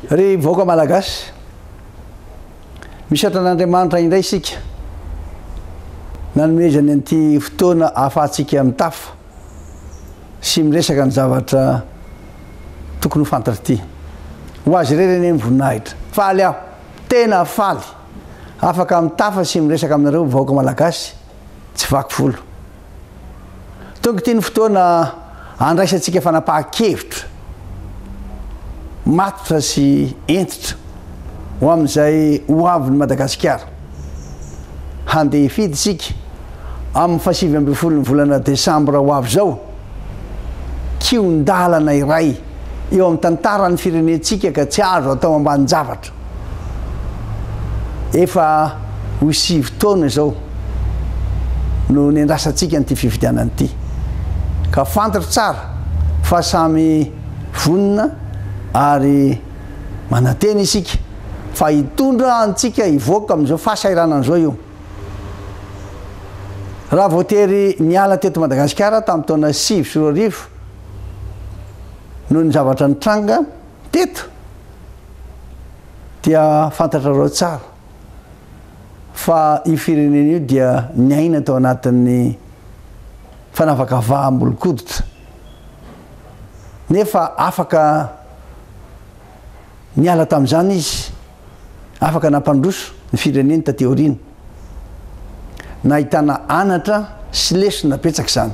Ry vahoaka Malagasy, misaotra an'Andriamanitra indray isika nanomezany an'ity fotoana ahafahantsika mitafa sy miresaka ny zavatra tokony ho fantatra ity. Ho azy irery anie ny voninahitra. Faly aho, tena faly, afaka mitafa sy miresaka aminareo vahoaka Malagasy. tsy vaky volo. Tonga ity ny fotoana handraisantsika fanapahan-kevitra matotra sy hentitra ho amin'izay ho avin'i Madagasikara. Handeha hifidy isika amin'ny fahasivy ambin'ny folon'ny volana desambra ho avy izao. Kihon-dalana iray eo amin'ny tantaran'ny firenentsika ka tsy azo atao ambanin-javatra. Efa ho sivy taona izao no niandrasantsika an'ity fifidianana ity, ka fantatro tsara fa samy vonona ary manantena isika fa hitondra antsika hivoaka amin'izao fahasahiranana izao io. Raha voatery niala teto Madagasikara tamin'ny taona sivy sy roa arivo noho ny zavatra nitranga, Teto dia fantatrareo tsara fa io firenena io dia niaina tao anatin'ny fanavakavaham-bolonkoditra nefa afaka niala tamin'izany izy, afaka nampandroso ny fireneny taty aoriana. Nahitana anatra sy lesona betsaka izany.